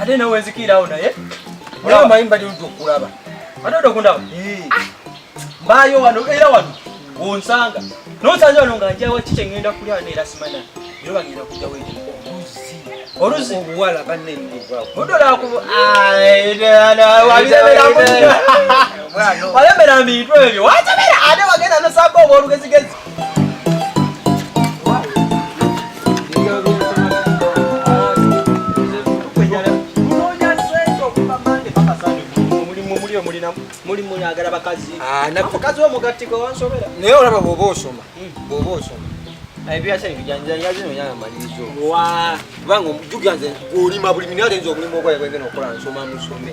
ate nawe nzikirawo naye olaba manyi mbali ludda okulaba ate odda okundaba mbaayo wano era wano wonsanga nonsanga wano nga njawa kiki engenda kulya wano era simana era bagenda kujja wete oluzi oluzi obuwala banenwalembera mbintu ebyo watemera ate wagenda nosanga obwolugezigezi mulimu yagala bakazi ah, mukazi wo mugattiko wansobera naye olaba bwoba osoma hmm. bwoba osoma ebyasa ebijanja kubanga jukira nze olima buli minala enza omulimu ogwaye gwengena okola nsoma musome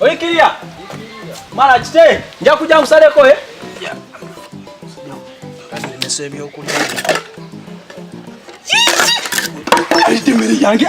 Oikiria. Mara kite. Nja kuja nkusaleko eh. Yeah. Nimese ebyokulya. Emmere yange.